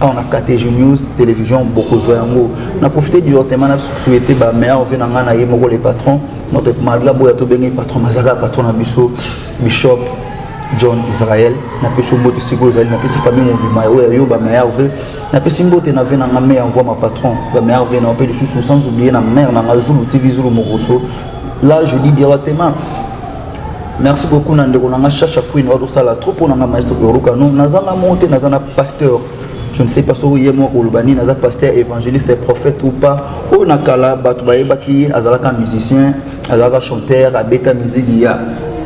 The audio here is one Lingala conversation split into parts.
awa na KTG News télévision bokozwa yango na profite du hortement na souhaiter ba meilleurs vœux na ngai na ye moko le patron notre malgré boya tobengi patron mazaka patron na biso bishop john israel napesi mbote sikoyo ozali napesi famille mobima oyo yo bameilleur ve napesi mbote na ve na nga me ya mvua ma patron bameilleur ve nao mpe lisusu sans oublie na mare na nga zulu tv zulu mokoso là je dis directement merci beaucoup na ndeko na nga shasha queen oyo tosala trop mpo na nga maestro yoruka no naza na monte naza na pasteur je ne sais pas soki ye moko koloba nini aza pasteur évangéliste prophète ou pas oyo na kala bato bayebaki ye azalaka musicien azalaka chanteur abeta miziki ya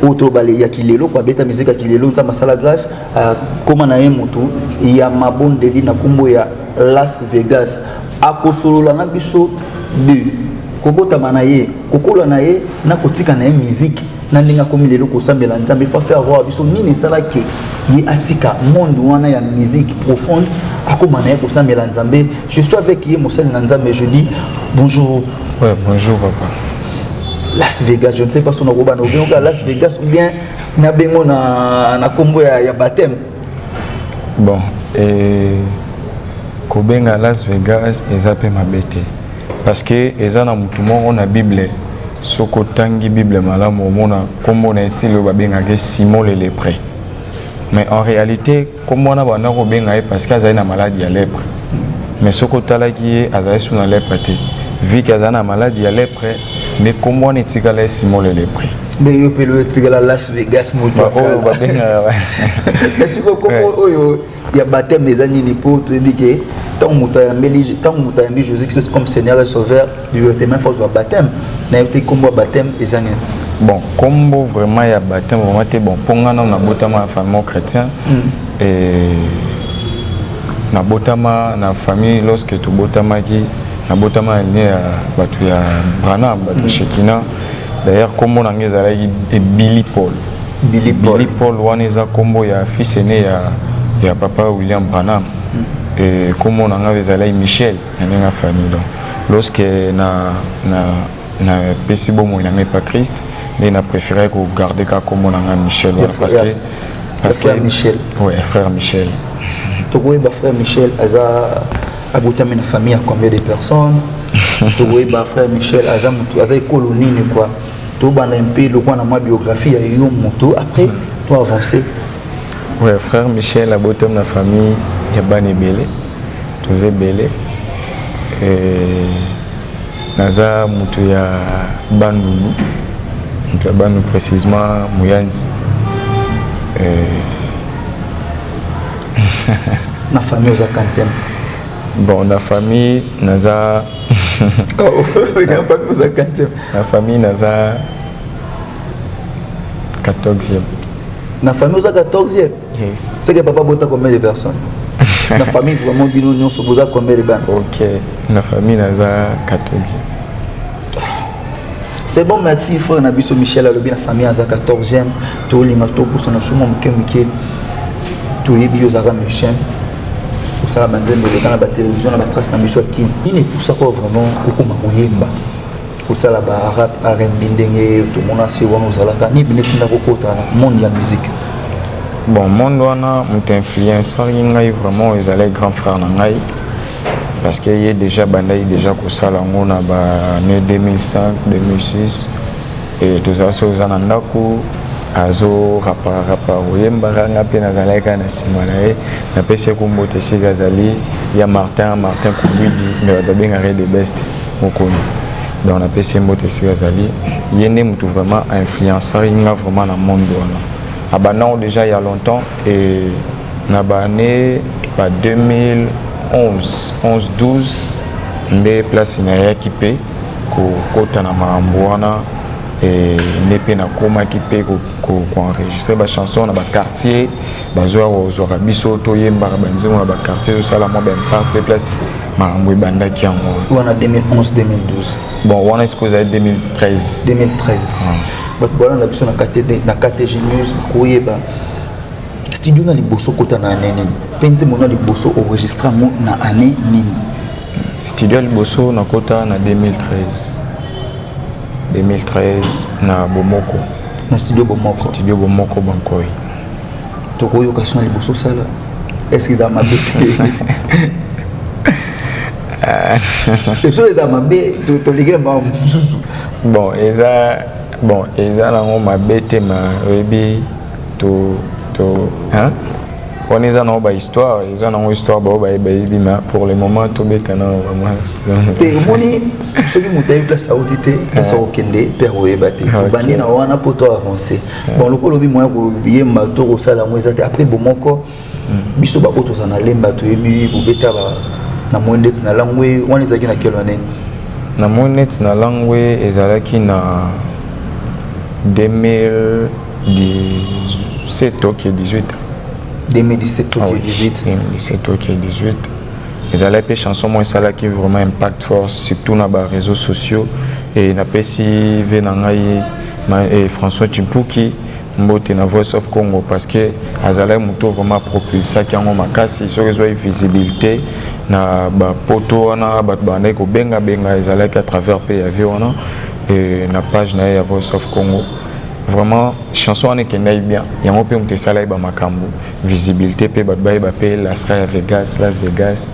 oyo tolobale ya kilelo ko abeta miziki ya kilelo nzambe asala grâce akoma na ye motu ya mabondeli na nkombo ya las vegas akosolola na biso de kobotama na ye kokola na ye na kotika na ye miziki na ndenge akomi lelo kosambela nzambe fa faire voir biso nini esalaki ye atika monde wana ya musique profonde akoma na ye kosambela nzambe je suis avec ye mosali na nzambe je dis bonjour ouais, bonjour papa las vegas je ne sais pas son akobana obien oka las vegas ou bien na bengo na, na kombo ya, ya baptême bon eh, kobenga las vegas eza mpe mabe te Parce que eza na mutu moko na Bible soki otangi Bible malamu omona kombo na ye ti lelo babengaka Simon le lepre mais en réalité kombo wana banda kobenga ye parce que azali na malade ya lepre mais soki otalaki ye azali su na lepre te vu que azali na malade ya lepre nde kombo wana etikala ye Simon le lepre nde yo mpe loyo etikala Las Vegas moto oyo babengaka oyo ya baptême eza nini mpo toyebi ke ntango moto ayambeli ntango moto ayambi jésus christ comme seigneur et sauveur directement faut azwa baptême nayebi te nkombo ya baptême eza nini bon nkombo vraiment ya baptême vraiment te bon mpo nga nano nabotama na famille chrétien mm. et nabotama na famille lorsque tobotamaki nabotama na linie ya bato ya branham bato ya mm. shekina d'ailleurs nkombo na ngai ezalaki ebili paul Billy Paul. Billy Paul wana eza kombo ya fils aîné ya ya papa William Branham. Mm. Et kombo na ngai ezalaki Michel na ndenge ya famille donc lorsque na na na pesi bomoi na ngai pa Christ nde na préféré ko garder ka kombo na ngai Michel wana parce que parce que Michel. Ouais, frère Michel. Tokoyeba frère Michel aza abotami na famille ya combien de personnes? Tokoyeba frère Michel aza mutu aza ekolo nini quoi? tobanda mpe lokola na mwa biographie ya yo moto après to avancer ouais, frère michel abotam na famille ya bana ebele toza ebele naza moto ya bandundu moto ya bandundu précisement moyanzi na famille oza kantième bon na famille naza na famille naza 14e na famille oza 14e yes. seke papa bota combien de personnes na famille vraiment bino nyonso boza combien de bana ok na famille naza 14e C'est bon, merci frère Nabiso Michel alobi na famille aza 14e tolinga tobosana suma moke moke toyebi yo ozalaka musicien osala banzembo eleka na batelevizio na batrace na biso ya kini nini epusaka vraiment okoma koyemba kosala barap rnb ndenge tomona se wana ozalaka nini bino etinda kokota na monde ya musique bon monde wana moto influencaki ngai vraiment ezalaki grand frère na ngai parce que ye déjà abandaki déjà kosala yango na baannée 2005 2006 e tozala soki oza na ndako azo rapararapa koyembaka nga mpe nazalaki kaka na nsima na ye napesi ye kombo te esika azali ya martin martin kobidi me bato babengaka ye de best mokonzi donc napesi ye mbote esika azali ye nde motu vraiment ainfluencaki nga vraiment na monde wana abandango déjà ya longtemps et Na ba annee ba 2011 11 12 nde place nayaki mpe kokota na makambo wana eh, nde mpe nakomaki mpe koenregistre bachanson na baquartier bazoya kozwaka biso toyembaka banzembo na baquartier tosala mwa baimpact mpe place makambo ebandaki yango wana 2011 2012 bon wana esiko ezali 2013 2013 bato balanda biso na ktg news koyeba studio na liboso kota na année nini mpe nzembo na liboso enregistre yango na année nini studio ya liboso nakota na 2013 2013 na bomoko na studio bomoko studio bomoko bankoi tokoyoka sona liboso osala eske eza mabe te esoki eza mabe toleki na bango mosusu bon eza bon eza nango mabe te ma oyebi to to hein wana eza nango bahistoire eza nango histoire bao bayebi ma pour le moment tobeta na te omoni soki moto ayebi place auti te place akokende mpe akoyeba te tobandi na wana mpo to avance bon lokola obi moya koyemba to kosala yango eza te après bomoko biso baoyo toza na lemba toyebi bobeta ba na moi ndeti na langwe wana ezalaki na quelle année na moi neti na langwe ezalaki na 2017 ok 18 2017 ok 18 2017 ok 18 ezalaki mpe chanson moko esalaki vraiment impact fort surtout na ba réseaux sociaux e napesi ve na ngai eh, françois chimpuki mbote na voice of congo parce que azalaki moto oyo vraiment apropulsaki yango makasi soki ezwaki visibilité na bapoto wana bato babandaki kobengabenga ezalaki à travers mpe ya vie wana na page na ye ya voice of congo vraiment chanson wana ekendaki bien yango mpe moto esalaki bamakambo visibilité mpe bato bayeba mpe lasra ya vegas las vegas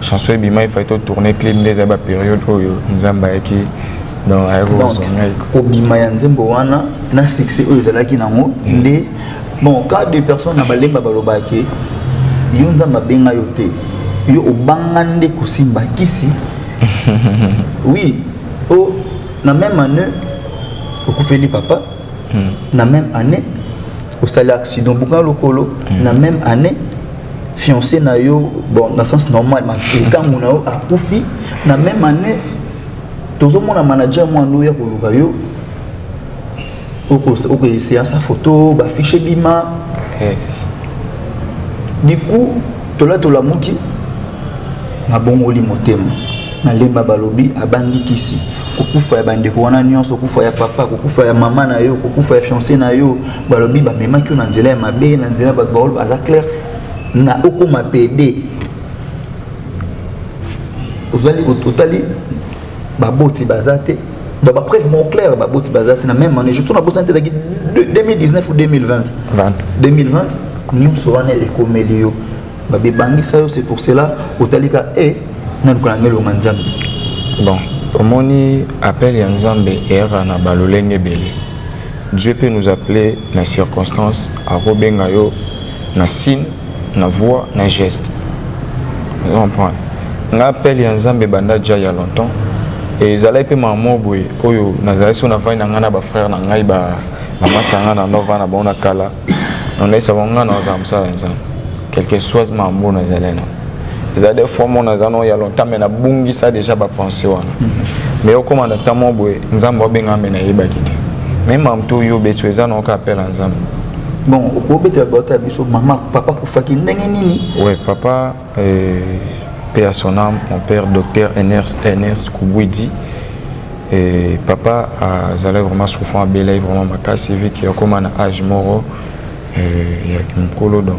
chanson ebima efai to tourne clip nde ezali baperiode oyo nzambe ayaki donc ayaki kozwa ngai kobima ya nzembo wana na succès oyo ezalaki nango mm. nde bon cas de personne na balemba balobaki yo nzambe abenga yo te yo obanga nde kosimba kisi oui o oh, na même année okufeli papa mm. na même année osali accident bukana lokolo mm. na même année fiancé na yo bon na sens normal likangu na yo akufi na même année tozomona manager mwana oyo ya koluka yo okoeseya sa photo bafiche bima du coup tola tolamuki nabongoli motema nalemba balobi abangi kisi kokufa ya bandeko wana nyonso kokufa ya papa kokufa ya mama na yo kokufa ya fiancé na yo balobi bamemaki yo na nzela ya mabe na nzela bato baolo baza claire na okoma pede ozali otali baboti baza te donc bapreuve mon claire baboti baza te na même année je so nabosani te ezalaki 2019 ou 2020 2020 nyonso wana ekomeli yo babebangisa yo c'est pour cela otalika e eh, naluka nange elonga nzambe bon omoni appel ya nzambe eyaka na balolenge ebele Dieu peut nous appeler na circonstance akobenga yo na signe na voix na geste ozo comprendre nga appel ya nzambe ebanda ja ya longtemps e ezalaki mpe mamo boye oyo nazalaki so navandi na ngai na bafrère na ngai bamasanga na nova na bango na kala nalaisaka ngai nazala mosala ya nzambe quelque soit mambo nazali na eza de fois mona aza no ya longtemps me nabungisa déjà bapense wana mm-hmm. me okóma na ntan mwa boye nzambe obenga me nayebaki te me mamto oyo obeti eza naoka apela nzambe bon obetela bato ya biso mama papa kufaki ndenge nini we papa Paix à son âme, mon père docteur Ernest, Ernest Koubouidi. Et papa azalaki vraiment souffrant abelai vraiment makasi vu que akoma na âge moko ya kimokolo donc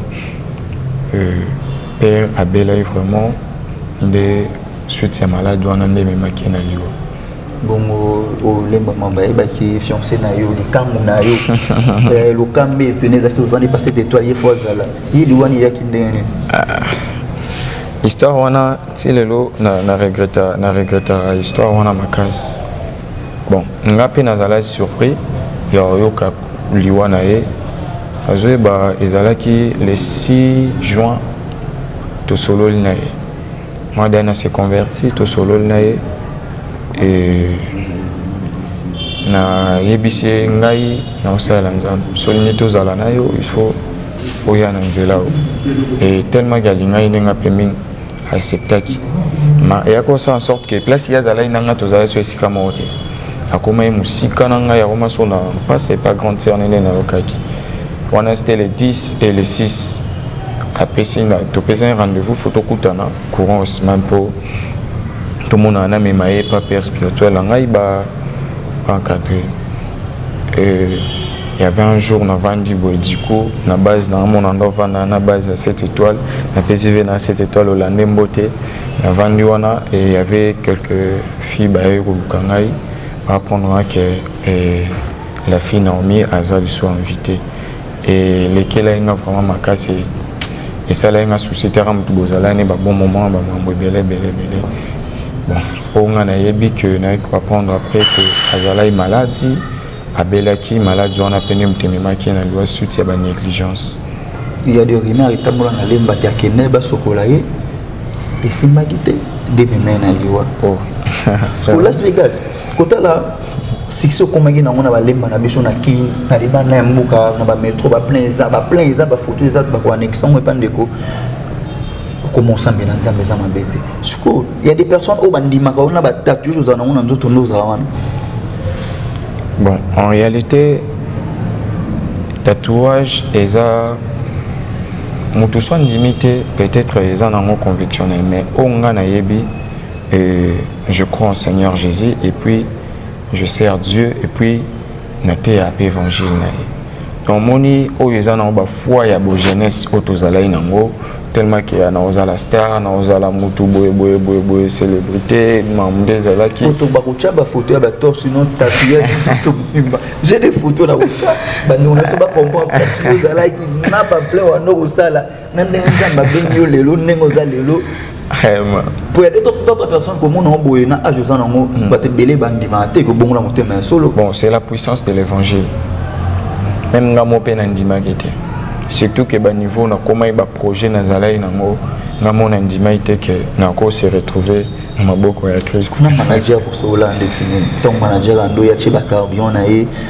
père abelai vraiment nde suite ya malade wana nde ememaki ye na liwa bongo olemba oh, mamba ayebaki fiancé na yo likambo na yo eh, lokambe pene ezalaki ovandi pase d'étoile ye fo azala ye liwani eyaki ndenge nini ah. histoire wana ti lelo na regreta na regretaka histoire wana makasi bon nga mpe nazalaki surpris ya oyoka liwa na ye azoyeba ezalaki le 6 juin tosololi na ye Moi Diana s'est converti, tosololi na ye e, nayebisi ye ngai nakosalela nzambe solingi tozala na yo il faut oya na nzela oyo e tellement ke alingaki ndenge mpe mingi acceptaki ma eyaki kosala en sorte ke place ye azalaki na ngai tozalaki so esika moko te akomaki mosika na ngai akoma so na mpasi epa grande sœur nene nayokaki wana c'était le 10 et le 6 apesi nga topesani rendez-vous fo tokutana courant osman mpo tomonana namema ye pa père spirituel na ngai ba encadré euh, il y avait un jour na vandi boye diko na base na amona ndo vanda na base ya 7 étoile na pesi ve na 7 étoile olande mbote na vandi wana et il y avait quelques filles baye koluka ngai baapprendre nga ke eh, la fille Naomi aza lisusu invitée elekelaki nga vraiment makasi esalaki nga souci te aka motu bozalani babon moment bamambo ebele ebele ebele bon oyo nga nayebi ke naye koapprendre après ke azalaki maladi abelaki maladi wana mpe nde moto ememaki na liwa suite ya banégligence il y a des rumeurs etambola na lemba ti akende basokola ye esimbaki te nde ememai na liwa oh. pour las vegas kotala succès okomaki nango na balemba na biso na kin na libanda ya mboka na bametro baplein eza baplein eza bafoto eza bakoanexe yango epa ndeko okoma osambela nzambe eza mabe te sikoyo ya des personnes oyo bandimaka wana batatu oyo ozala nango na nzoto nde ozala wana bon en réalité tatouage eza moto so andimi te peut-être eza nango conviction na ye mais oyo ngai nayebi euh, Je crois en Seigneur Jésus et puis je sers Dieu et puis na te ape évangile na ye donc moni oyo eza nango bafoi ya bojeunesse oyo tozalaki nango tellement ke na ozala star na ozala mutu boye boye boye boye célébrité mamu nde ezalaki oto bakotya bafoto ya batorse non tatouage tuto mobimba je des photo na kotya bandeko na biso bacomprendre ozalaki na baple wana okosala na ndenge nzambe abengi yo lelo ndenge oza lelo po ya d'autres personnes komona ngo boye na age oza nango hmm. bato ebele bandimaka te kobongola motema ya solo bon c'est la puissance de l'évangile meme nga mo mpe nandimaki te surtout ke baniveau nakomaki baprojet nazalaki nango nga mo nandimaki te ke nako se retrouver na maboko ya kristo kuna manager kosola ndeti nini ntango manager ando ya tie bacarbion na ye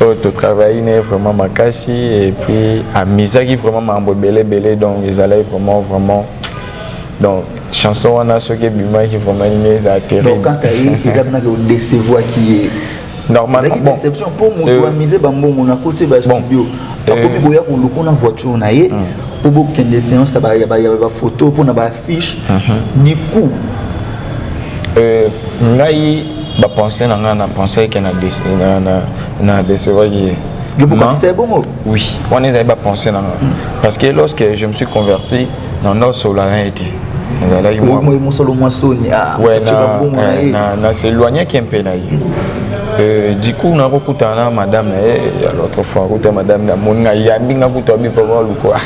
oyo totravaille ne vraiment makasi et puis amizaki vraiment makambo ebele ebele donc ezalaki vraiment vraiment donc chanson wana soki ebimaki vraiment nini ezala terrible kaka ye eza mpona odecevoaki ye normalement bon déception mpo moto euh, amise bambongo na koti ba studio akomi euh, koya koluka na voiture na ye mpo hmm. bokende séance ya bafoto mpo na ba fiche mhm. du coup euh, ngai bapense na ngai na pensaki ke na decevaki ye yobokokisai bongo oui wana ezali bapense na ngai mm. parce que lorsque je me suis converti na nosola na ye te nazalaki mosolo mwa soni ah, eh, na s'éloignaki mpe na ye Euh, du coup nakokutana na madame na ye ya l'autre fois akuta madame na moni ngai yambi nga kutu abipaka luku ah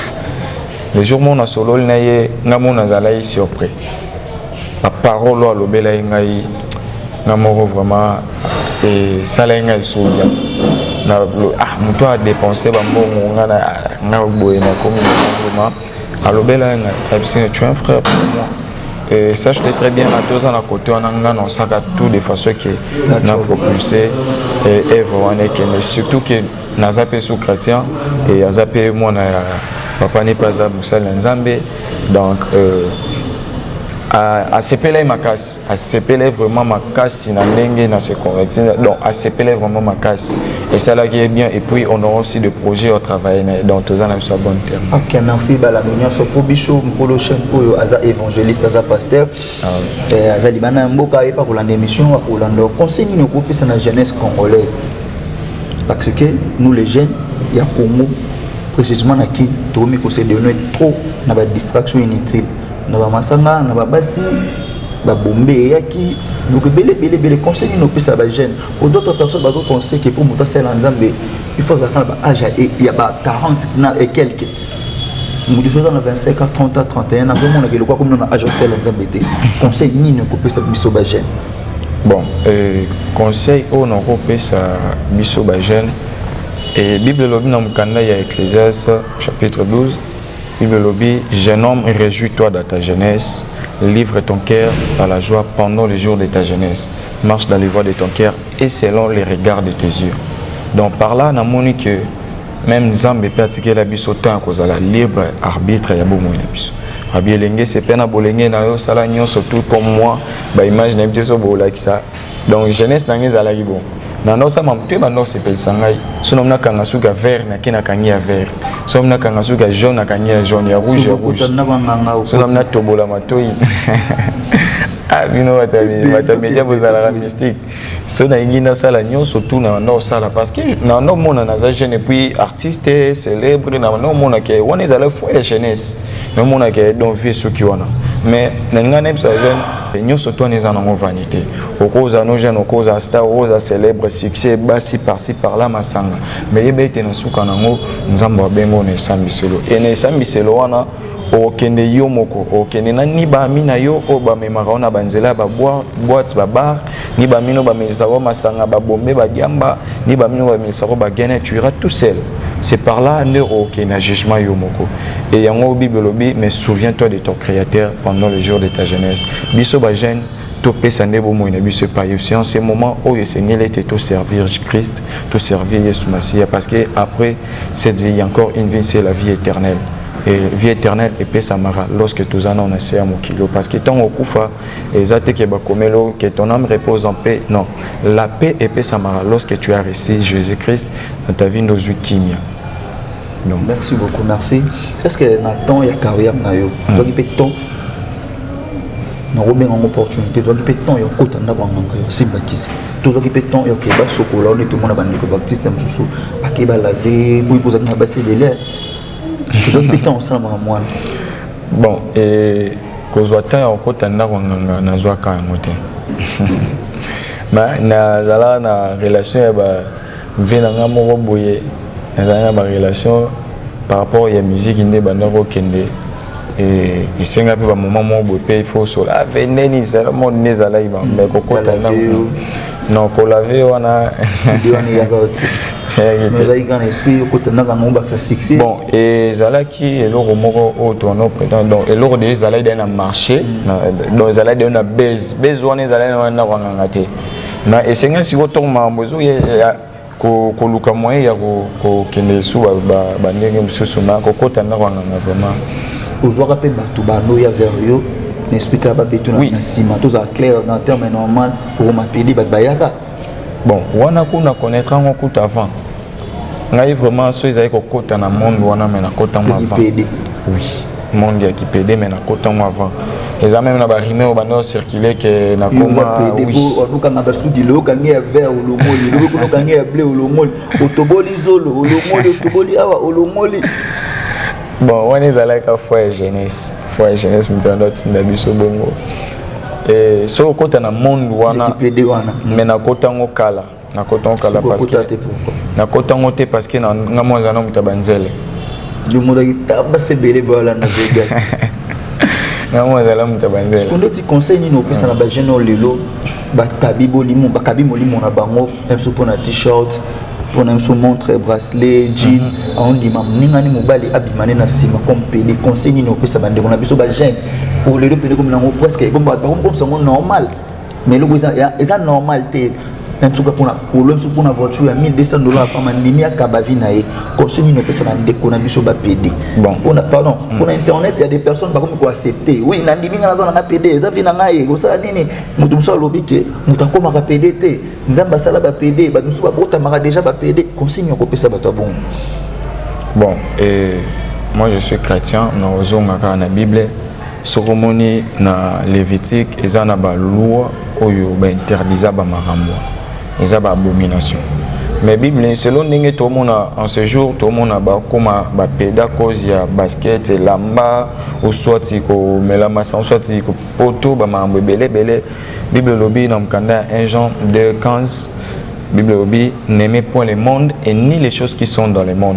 le jour moko nasololi na ye ngai moko nazalaki surpris baparole oyo alobelaki ngai nga moko vraiment esalaki ngai esoya ah moto adepense bambongo nga na nga boye nakomi vraiment alobelaki ngai ayebisi tu un frère pour moi Et ça, je très bien à deux ans à côté, on a un sac à tout de façon que on a propulsé et, et vraiment, surtout que naza mpe sous chrétien e aza mpe mwana ya papa nepe aza mosali ya nzambe donc euh, asepelai makasi asepelai vraiment makasi na ndenge na se converti donc asepelai vraiment makasi esalaki ye bien et puis on aura aussi de projet au travail na ye donc toza na biso ya bonne terme ok merci balami nyonso mpo biso mokolo chaine oyo aza évangéliste aza pasteur Eh, aza libanda ya mboka ayebi akolanda émission akolanda conseil nini okopesa na jeunesse congolais parce que nous les jeunes ya congo précisément na kin tokomi kosedone trop na badistraction inutile na bamasanga na babasi babombe eyaki donc ebele ebele ebele conseil nini opesa bajeune po d'autres personnes bazo conseil ke mpo moto asala nzambe il faut azalaka na baage ya ba 40 na ekelke moto soza na 25 a 30 a 31 azomonaka eloko akomina na age ofela nzambe te conseil nini okopesa biso bajeune bon euh, conseil oyo nakopesa biso bajeune e bible elobi na mokanda ya ecclésias chapitre 12 bible elobi jeune homme réjouis toi dans ta jeunesse livre ton cœur à la joie pendant les jours de ta jeunesse marche dans les voies de ton cœur et selon les regards de tes yeux donc par là namoni que meme nzambe mpe atikela biso temps ya kozala libre arbitre ya bomoi na biso abi elenge sepe na bolenge na yo sala nyonso tout comme moi baimage na biso so bolakisa donc jeunesse na ngai ezalaki bongo nanosama moto ye bando osepelisa ngai so namomi nakanga suki ya vert nake nakangi ya vert so namomi nakanga suki ya jaune nakangi ya jaune ya rouge ya rouge so namomi natobola matoi ah bino bato ya media bozalaka mystique so nalingi nasala nyonso tu na banda osala parce que na banda omona naza jeune epuis artiste célèbre na banda omona ke wana ezala fo ya jeunesse na omona ke donc vie soki wana mais nalinga nayebisa jeune nyonso tu wana eza nango vanité okoza no jeune okoza star okoza célèbre succès basi parci par là masanga mais yeba ete na suka nango nzambe abengo na esambiselo e na esambiselo wana okokende yo moko okokende na ni baami na yo oyo bamemaka yo na banzela ya baboite babar ni bamino bamelisaka yo masanga babombe badiamba ni bamino bamelisaka yo bagene tu iras tout seul c'est par là nde okokende na jugement yo moko e yango bible elobi mais souviens toi de ton créateur pendant le jour de ta jeunesse biso bajeune topesa nde bomoi na biso epai yesu en ce moment oyo esengeli ete toservir christ toservir yesu masiya parce que après cette vie encore une vie c'est la vie éternelle Et vie éternelle epesamaka lorsque toza nao na se ya mokili oyo parce que ntango okufa eza te ke bakomeli oyo ke ton âme repose en paix non la paix epesamaka lorsque tu as reçu jésus christ na ta vie nde ozwi kimia donc merci beaucoup merci est ce que na temps ya carrière na yo ozwaki mpe temps nakobenga yango opportunité tozwaki mpe temps ya kokota ndako ya nganga yo simbakisi tozwaki mpe temps ya okei basokola one tomona bandeko baptiste mosusu akei balave boyi kozalaki na basi ebele ozwaki mpe ntango osala makambo wana bon eh, kozwa temps ya kokota ndako nganga nazwaka yango te nazala na relation ya ba vie na ngai moko boye nazalaki na barelation par rapport ya miziki nde ebandaki kokende esenga mpe bamoma moko boye mpe ifo osola veneni zala mode nde ezalaki bango me kokota non kolave wana bon ezalaki eloko moko oyo tono prétend donc eloko deja ezalaki dai na marché mm. donc ezalaki dai na base base wana ezalaki na wana ndako anganga te na esenga sikoyo ntongo makambo ezoya koluka moyen ya kokende lisusu bandenge mosusu na kokota ndako ya nganga vraiment ozwaka mpe bato banoya vers yo na explike ya babeto na nsima tozala claire na terme normal okoma pede bato bayaka bon wana kuna connaître yango kuta avant ngai vraiment so ezali kokota na monde wana me nakota yango avant oui monde ya kipede mais nakota yango avant eza meme na barime oyo banda ocircule ke nakomaolukanga basuki loyokange ya vert olongoli lokoki olokange ya ble olongoli otoboli zolo olongoli otoboli awa olongoli bon wana ezalaka foi ya jeunesse foi ya jeunesse moto yanda otinda biso bongo eh, soki okota na monde wana me nakota yango kala nakota yango kala nakota yango te parce que nga mwa aza na moto ya banzele lomodaki tabasa ebele boyolanda vegas nga mwa azala moto ya banzele kondo ti conseil nini opesa na bajeune oyo lelo bakabi bolimo bakabi molimo na bango biso mpo na t-shirt mpo na biso montre bracelet jean mhm. aondima moningani mobali abima ne na nsima comme pede conseil nini opesa bandeko na biso bajeune oyo lelo pede komi nango presque bakomisa yango normal mais eloko eza ya- eza normal te na misuka mpona kolo misuka mpona voiture ya 1200 dollars apama ndimi akaba vi na ye conseil nini opesa na ndeko na biso bapede Bon. mpona pardon mpona internet ya des personnes bakomi koaccepte oui na ndimi ngai naza na ngai pede eza vi na ngai ekosala nini moto mosusu alobi ke moto akomaka pede te nzambe asala bapede bato mosusu babotamaka déjà bapede conseil nini okopesa bato ya bongo Bon, et moi je suis chrétien, na ozonga kaka na Bible, soki omoni na levitique eza na baloi oyo bainterdisa bamakambo eza baabomination mais bible selo ndenge tomona en ce jour tomona bakoma bapeda cause ya basket elamba oswati komela masa oswati poto bamakambo ebele ebele bible elobi na mokanda ya 1 jean 2 15 bible elobi n'aimez point le monde et ni les choses qui sont dans le monde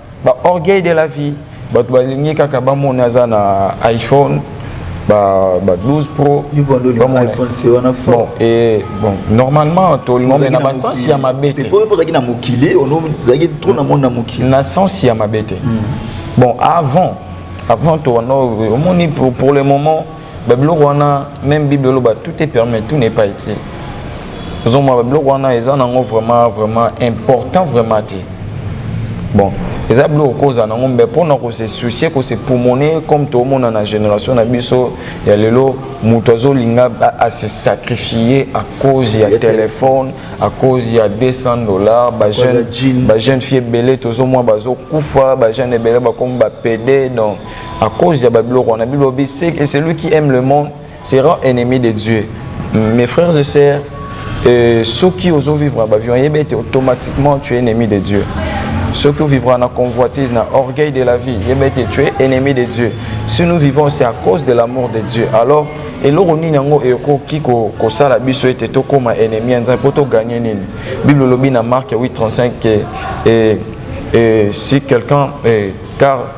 ba orgueil de la vie bato balingi kaka bamona aza na iphone ba, ba 12 pro bon, et, bon normalement tolingombe na basensi ya mabe te ozalaki na mokili ozalaki trop na monde na mokili na sensi ya mabe te hmm. bon avant avant to wana omoni pour le moment ba biloko wana même bible eloba tout est permis tout n'est pas utile ozomona ba biloko wana eza nango vraiment vraiment important vraiment te bon eza biloko kozala nango mbe mpo na kose soucie kose pumone comme toomona na génération na biso ya lelo moto azolinga ase sacrifie à cause ya telefone à cause ya 200 dollars bajeune fille ebele tozomwa bazokufa bajeune ebele bakomi bapede donc à cause ya babiloko wana bible obi c'est celui qui aime le monde sera ennemi de dieu mes frères et sœurs euh, soki ozo vivre na bavion yebi ete automatiquement tu es ennemi de dieu soki ovivra na convoitise na orgueil de la vie yebi ete tu es ennemi de dieu si nous vivons c'est à cause de l'amour de dieu alors eloko nini yango ekoki kosala biso ete tokóma ennemi ya nzambe mpo toganye nini bible olobi na mark 8 35 ke eh, eh, si quelqu'un eh, car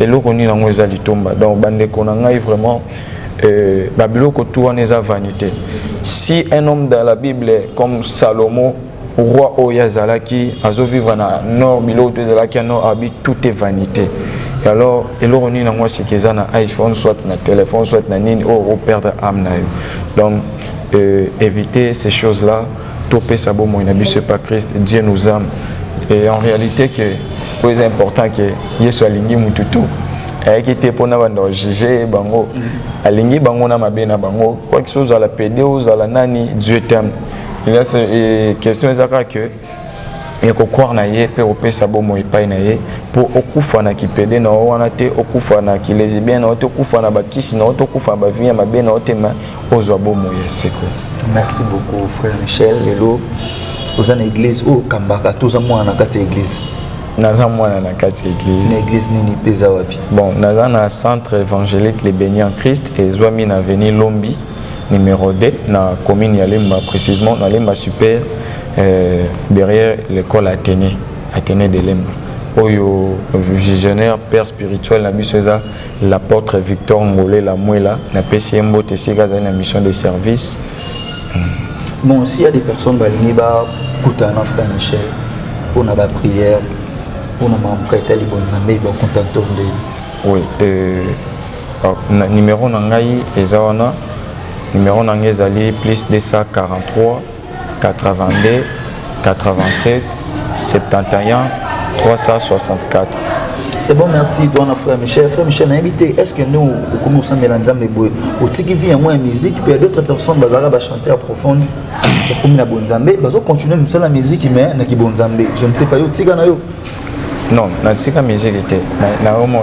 eloko nini yango eza litomba donc bandeko na ngai vraiment euh, babiloko tu wana eza vanité si un homme dans la bible comme salomo roi oyo azalaki azovivre na nord biloko to ezalaki ya nord abi tout est vanité et alors eloko nini yango asika eza na iphone soit na téléphone soit na nini oyo oh, operdre ame na yo donc euh, éviter ces choses là topesa bomoi na biso epa christ dieu nous ame et en réalité que oyo eza important que yesu alingi mutu tu ayaki te mpo na banda bajuge bango alingi bango na mabe na bango kwakisi ozala pede ozala nani dieu teme question eza kaka que ya kokware na ye mpe kopesa bomoi epai na ye mpo okufa na kipede na yo wana te okufa na kilesibien na yo te okufa na bakisi na yo te okufa na bavie ya mabe na yo te ma ozwa bomoi ya seko merci beaucoup frère michel lelo oza na église oyo okambaka to oza mwana na kati ya église naza mwana na kati ya église na église nini mpe eza wapi bon naza na centre évangélique le béni en christ ezwami na avenue lombi numéro 2 na commune ya lemba précisément na lemba super euh, derrière l'école athénée athénée de lemba oyo visionnaire père spirituel na biso eza L'apotre Victor Ngole Lamuela, na pesi ye mbote esika azali na mission de service. Bon, s'il y a des personnes balingi bakutana na frère Michel mpo na baprière mpo na makambo ka etali bonzambe bakontakte ndeni oui euh, na numéro na ngai eza wana numéro na ngai ezali plus 243 82 87 71 364 c'est bon merci toi na frère michel frère michel nayebi te est ce que nde okomi kosambela nzambe boye otiki vie yango ya musique mpe ya d'autres personnes bazalaka bachanteur profonde bakomi na bonzambe bazocontinue mosala ya musique mais na kibonzambe je ne sais pas yo otika na yo non natika miziki te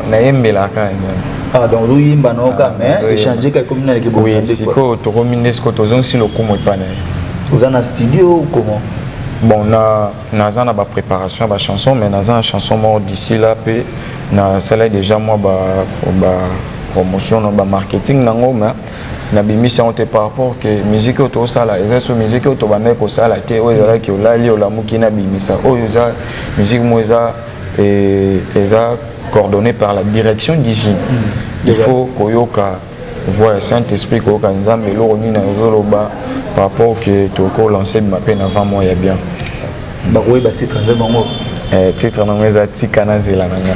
nayembelaka nzambe ah, donc ozoyemba na oka ah, mais echange ka ekomi na leke bonzambe sikoyo tokomi nde sikoyo tozongisi lokumu epai na ye oza na studio comment bon na naza na bapréparation ya bachanson mais naza na chanson moko d'ici là mpe nasalai déjà mwa ba, ba promotion na bamarketing nango mais nabimisi yango te par rapport ke miziki oyo tozosala eza so miziki oyo tobandaki kosala te oyo ezalaki olali olamuki nabimisa oyo eza miziki moko eza eh, eza coordonné par la direction divine mm. il faut koyoka voix ya saint esprit koyoka nzambe eloko nini azoloba par rapport ke tokoki kolanse bima mpe na 20 mois ya bien bakoyeba titre nzembo bango eh, titre nango eza tika na zela na nga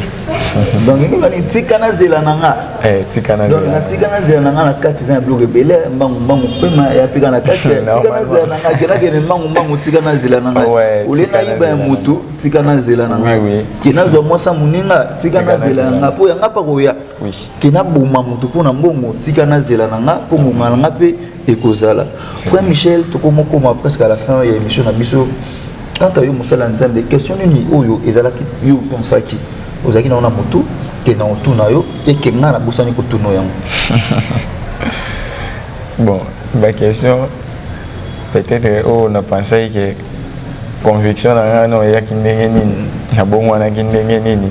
donc nini bani tika na zela na nga eh, tika na zela na tika na zela na nga na kati eza na biloko ebele mbangu mbangu pema ya pika na kati tika na zela na nga kena kene mbangu mbangu tika na zela na nga ole na yiba ya mutu tika na zela na nga kena zwa mwasa muninga tika na zela na nga po ya nga pa koya kena boma mutu po na mbongo tika na zela na nga po ngonga na nga pe ekozala frère michel tokomokoma presque à la fin ya émission na biso kaka yo mosala ya nzambe question nini oyo ezalaki yo opensaki ozalaki nango na motu ke na otuna yo eke ngai nabosani kotuna yango bon baquestion peut-être oyo oh, napensaki ke conviction na ngai no eyaki ndenge nini nabongwanaki ndenge nini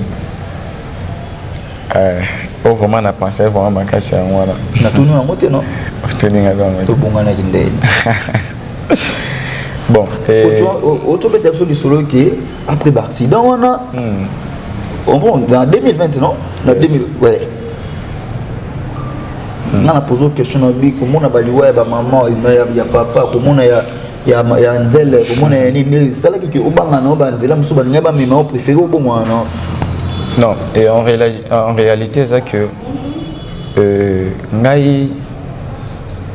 Eh, oh vraiment na pensé vraiment makasi yango wana. Na tunu yango te non? Tuni nga yango. To bonga na kindeni. Bon, eh o to beta biso lisolo ke après ba accident wana. Hmm. On oh, bon dans 2020 non? Na 2000 ouais. Hmm. Nga na poser question na bi komona ba liwa ya ba maman, ya papa, komona ya ya ya nzele komona ya nini nde esalaki ke obanga na banzela mosusu balingai bamema o préféré obongwana na non et en, réla en réalité eza que euh, ngai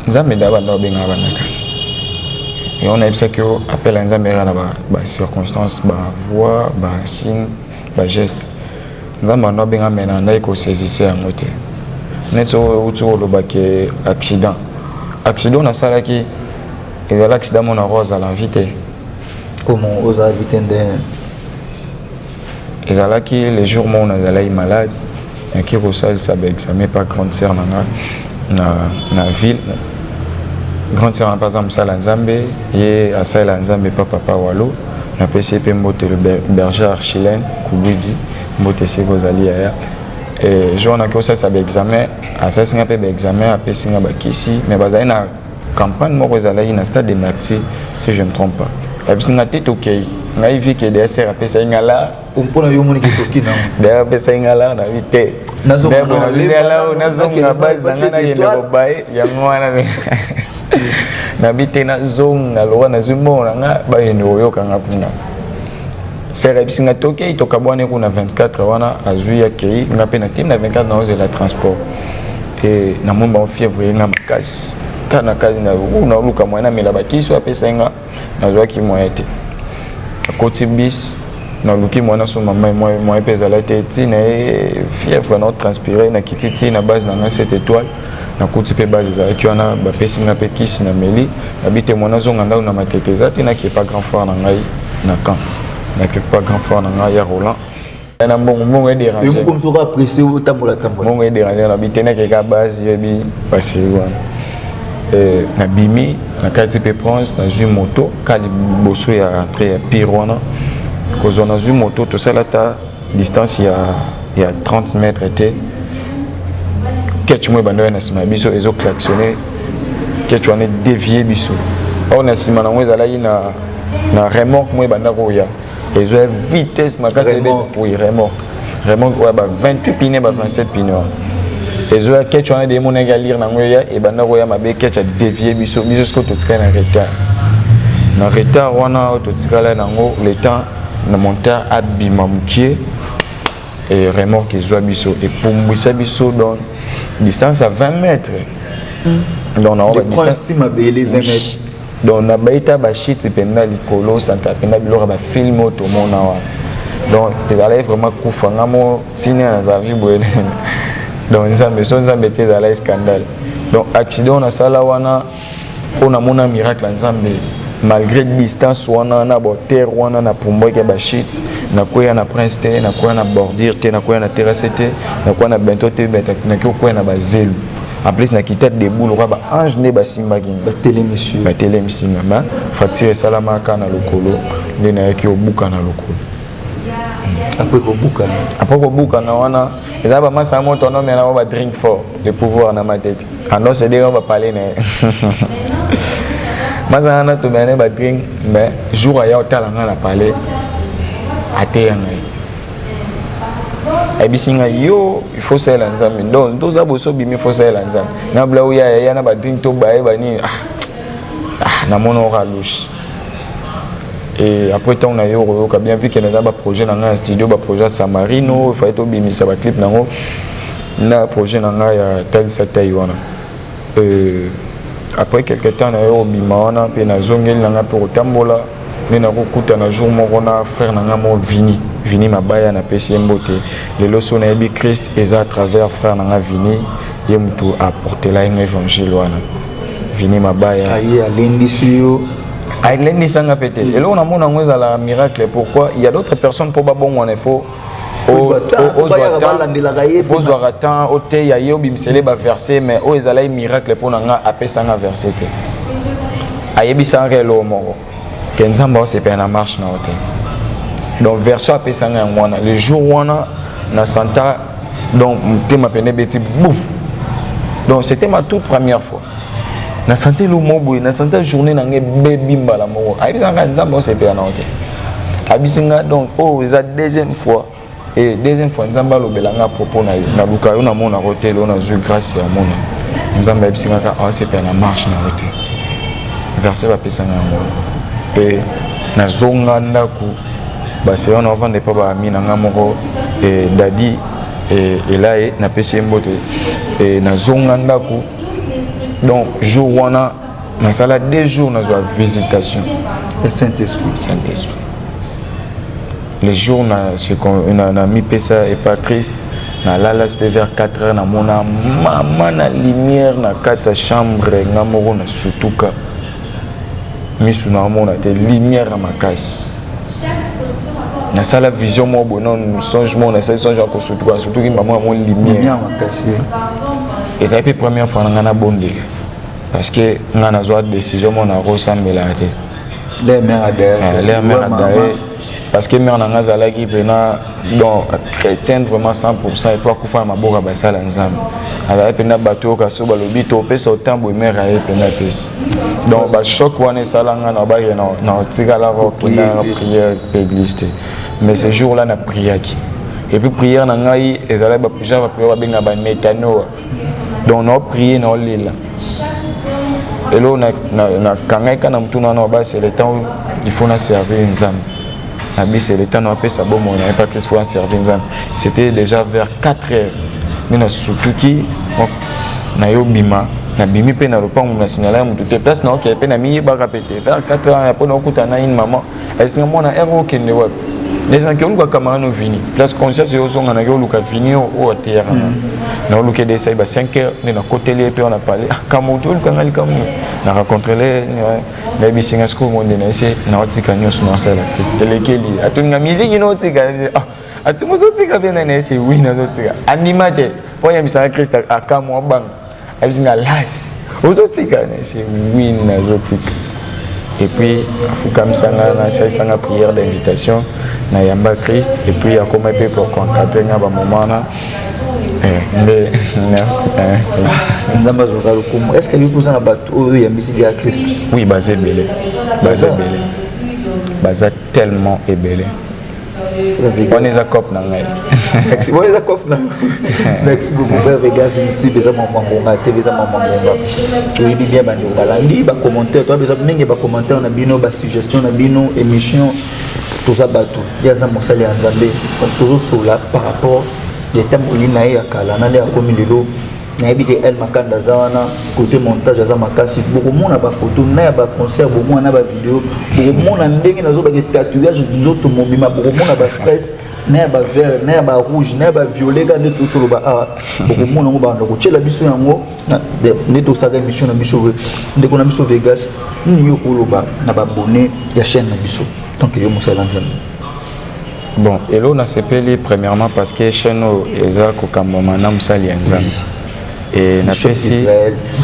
nzambe nde abanda obengaka bandaka yango nayebisaki yo appel ya nzambe eza na bacirconstance bavoix basigne bageste nzambe abanda obenga me na ndaki kosaisisse yango te neti outi olobaki accident accident nasalaki ezala accident mona ko azala invité comment oza invité nde ezalaki le jour moko nazalaki malade naki kosalisa baexame pa grande sœur na nga na, na ville grande sœur na mpe aza mosala nzambe ye asalela nzambe pa papa walo napesi ye mpe mbote le berger archilene kubidi mbote esika ozali yaya jour naki kosalisa baexame asalisi nga mpe baexame apesi nga bakisi mais bazali na campagne moko ezalaki na stade de maxi si je ne trompe pas babisi nga te tokei ngai vike dsr apesaki nga la mpona yo omoni ketoki na dayr apesaki nga la nabi te nazonga base na ngai nakende kobaye yango wana nabi te nazonga lokola nazwi mbongo na nga bayende koyoka nga kuna sere ayebisi nga tokei tokabwani kuna 24 wana azwi akei nga mpe nakei na 24 naozela transport e na moni bango fièvre ye nga makasi kaka na kati na naoluka moyen namela bakisi oyo apesaki nga nazwaki moyen te akoti bis naluki moyen nasomba mai moyen mpe ezala te ti na ye fièvre nao transpire nakiti ti na base na ngai set étoile nakuti mpe base ezalaki wana bapesi ngai mpe kisi na meli nabi te moyen nazonga ndako na matete eza te nakepa grand frère na ngai na camp nakepa grand frère na ngai ya roland na mbongo mbongo ederange yo moko msoka presse otambola tambola mbongo ederange na biteneke ka base yebi basi wana eh, nabimi nakati mpe prince nazwi moto ka liboso ya rentre ya pire wana kozwa nazwi moto tosala ata distance ya, ya 30 mètre te ketch moko ebanda oya na nsima ya biso ezo klaxonne ketch wana edevie biso oyo na nsima nango ezalaki na, na remorque moko ebanda koya ezwa vitesse makasi remorque oui remorque remorque oyo ba 28 pine ba 27 pine wana ezwa ketch wana de emonaki alire nango eya ebanda koya mabe ketch adevie biso biso sikoyo totikali na retard na retard wana oyo totikala nango le temps na montar abima mokie e remorque ezwa biso epumbwisa biso donc distance ya 20 mètres mm. donc na oyo distance mabele 20 mètres donc na baita bashiti mpenza likolo osantaka mpenza biloko ya bafilme oyo tomona wana donc ezalaki vraiment kufa nga mo ntina nazalaki boye donc nzambe so nzambe te ezalaki scandale donc accident nasala wana mpo namona miracle ya nzambe malgré distance wana na boterre wana na pumbwaki ya bashite nakweya na prince te nakweya na bordure te nakweya na terrasse te nakweya na bento te nakoki kokwea na bazelu en plus na kita debout lokola ba ange nde basimbaki batelemisi batelemisi nga ma fracture esalamaka na lokolo nde nayaki obuka na lokolo apres kobukana apres kobukana wana eza bamasa ya moto wana mela ngo ba drink fort le pouvoir na matete andos edenge ngo bapale na ye masa wana tomela ne ba drink mais jour aya otala nga na pale ateya ngai ayebisi nga yo il faut salela nzambe donc toza boso bimi faut salela nzambe na blau ya ya na ba drink to baye ba nini ah ah na mono ka louche et après temps na yo oyoka bien vu que naza ba projet na nga ya studio ba projet samarino il fallait to bimisa ba clip nango na projet na nga ya talisa tai wana euh après quelque temps na yo obima wana mpe nazongeli na nga mpe kotambola nde nakokutana jour moko na frère na ngai mo vini vini mabaya napesi ye mbote lelo so nayebi christ eza à travers frère na ngai vini ye motu aportela ye ngo évangile wana vini mabaya aye alendisi yo alendisanga mpe te eloko namona yango ezala miracle pourquoi il y a d'autres personnes mpo babongwana il faut ozwaka temps oteya ye obimisele baverse mais oyo ezalaki miracle mpo na nga apesanga verse te ayebisaka eloo moko ke nzambe aosepela na marche na yo te donc version apesanga yango wana le jour wana na santa donc motema pene ebeti boum donc c'était ma toute première fois na sante elo moko boye na sante journée na ngai bebi mbala moko ayebisa ngai nzambe osepela na yo te abisi ngai donc oyo oh, eza deuxième fois e deuxième fois nzambe alobela ngai propos na yo naluka yo namona ko te lelo nazwi grâce ya mona nzambe ayebisi ngai kaka asepela na marche na yo te verse bapesa ngai yango mpe nazonga ndako base wana ovanda epa baami na ngai moko eh, dadi eh, elaye napesi ye mbote eh, nazonga ndako donc jour wana nasala deux jours nazwa visitation ya saint-esprit saint-esprit le jour namipesa epa christ nalala c'était vers 4 heures namona mama na lumière na kati ya chambre nga moko na sutuka misu na amona te lumière ya makasi nasala vision moko boye nano songe moko nasali songe ya kosutuka nasutuki mbamo ya mo lumière makasi ezali mpe première fois na ngai nabondela parce que ngai nazwa décision moko nakosambelaka te leur mère a d'ailleurs parce que mère na nga azalaki mpena donc chrétienne vraiment 100% epo akufa na maboko ya basala nzambe azalaki mpena bato oyo kasi balobi topesa otemp boye mère aye mpena apesi donc bachoc wana esala nga na bake na otikala kokenda na prière mpe église te mais ce jour là na priaki epuis prière na ngai ezalaki genre baprière babenga bametanoa donc nao prie nao lela elo nakangaka na motuna wana wabasi le temps oyo il faut na servir nzambe na bisi le temps na apesa bomoi na ye pa kristo aservir nzambe c'était déjà vers 4 heures nde nasutuki nayo bima nabimi mpe na lopango na signala ya motu te place naokee mpe namiyebaka mpe te vers 4 heures mpo naokutana na une maman esinga mwana ero okende wapi nesanke oluka kamara no vini place conscience yozonga nake oluka vini oyo ateyaka nga mm. na oluka ede esali ba 5 heures nde nakoteli ye mpe wana pale ah, kambo to oluka nga likambo na racontrele nayebisi nga sikoyo monde na ese naotika nyonso nasala krist elekeli atuni nga miziki naotika ah, atuni ozotika mpe nani ese wi nazotika andima te mpo ayambisaka krist akamwa banga abisi nga las ozotika nase wi nazotika et puis afukamisa nga nasalisa nga prière d'invitation na yamba christ et puis akoma mpe pour concadre nga bamoment wana eh, nde nzambe azwaka lokumu est ce que yoki oza na bato oyo oyambisi bya christ oui baza ebele baza ebele baza tellement ebele wana eza cop na ngai wana eza cop na merci beaucoup frère vegas msibe eza mambo ngonga te eza mambo ngonga toyebi bien bandeko balandi bacommentaire toyebi eza mingi bacommentaire na bino basuggestion na bino émission toza bato ye aza mosali ya nzambe tozosola par rapport ya etamboli na ye ya kala na nde akomi lelo nayebi ke el makanda aza wana kote montage aza makasi bokomona bafoto na ya baconcert bomona na bavideo bokomona ndenge nazobake tatouage nzoto mobima bokomona bastress na ya bavert na ya barouge na ya baviolet ka nde totoloba awa bokomona yango banda kotyela biso yango nde tosaka émission na biso ndeko na biso vegas nini yo koloba na babone ya chaîne na biso tanke yo mosala nzambe Bon, elo nasepeli premièrement parce que chaîne oyo eza kokambama na mosali ya nzambe e napesi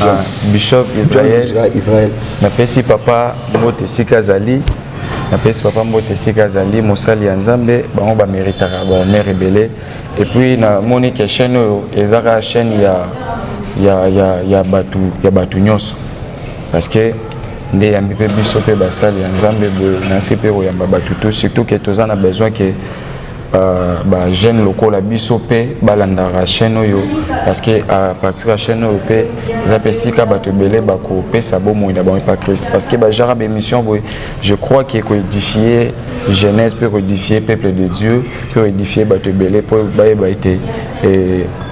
ah, bishop israel napesi papa mbote esika azali napesi papa mbote esika azali mosali ya nzambe bango bameritaka bahonneur ebele epuis namoni ke chaîne oyo ezaka chaîne ya, ya, ya, ya bato ya bato nyonso parce que nde eyambi mpe biso mpe basali ya nzambe boye na nse mpe koyamba bato to surtout ke toza na besoin ke euh, bajeune lokola biso mpe balandaka chaîne oyo parce que à partir ya chaîne oyo mpe eza mpe esika bato ebele bakopesa bomoi na bango epa christ parce que bajara baémission boye je crois ke koédifie jeunesse mpe koédifie peuple de dieu mpe koédifie bato ebele mpo bayeba ete eh,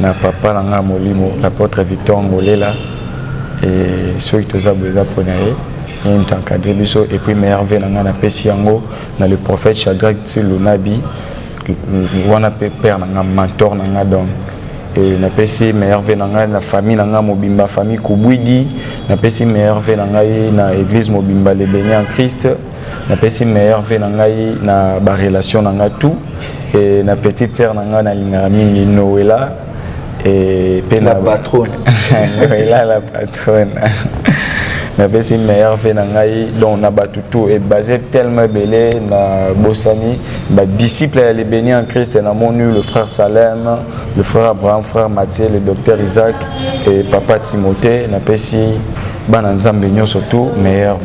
na papa na ngai molimo l'apotre victor ngolela e soki toza boye eza mpo na ye ye moto encadre biso epuis meilleur ve na ngai napesi yango na le prophète chadrak ti lunabi wana mpe père na ngai mentor na ngai donc e napesi meilleur ve na ngai na famille na ngai mobimba famille kubwidi napesi meilleur ve na ngai na église mobimba le beni en christ na pesi meilleur vie na ngai na ba relation na ngai tout et na petite sœur na ngai na lingaka mingi Noëlla et pe la patronne Noëlla la patronne na pesi meilleur vie na ngai donc na batu tout et basé tellement belé na bosani ba disciples ya les bénis en Christ na monu le frère Salem le frère Abraham frère Mathieu le docteur Isaac et papa Timothée na pesi bana nzambe nyonso tu meilleur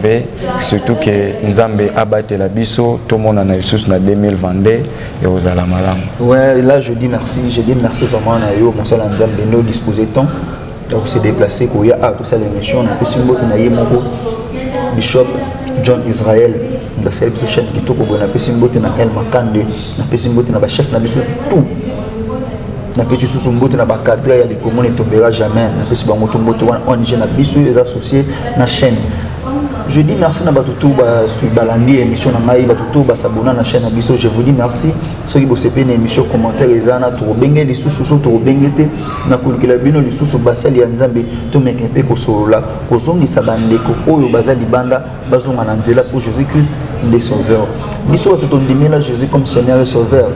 surtout ke nzambe abatela biso tomonana lisusu na 2022 ekozala malamu ouais là je dis merci je dis merci vraiment na yo mosala nzambe nde odispose temps ya kose déplace koya a kosala émission napesi mbote na ye moko bishop john israel ndasala biso chaine kitoko boye napesi mbote na el makande napesi mbote na bachef na biso tout napesi susu mbote na bacadre ya likomo ne tombera jamais napesi bango to mbote wana ong na biso eza associé na chaîne je dis merci na bato tout balandi émission na ngai bato tout basabona na chaîne na biso je vous dis merci soki bosepeli na émission commentaire eza na tokobenge lisusu so tokobenge te na kolukela bino lisusu basali ya nzambe tomeka mpe kosolola kozongisa bandeko oyo baza libanda bazonga na nzela mpo jésus christ nde sauveur biso bato tondimela jésus comme seigneur et sauveur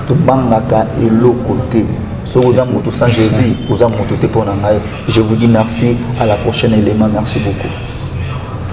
tobangaka eloko te soki oza moto sans jésus oza moto te mpo na ngai je vous dis merci à la prochaine élément merci beaucoup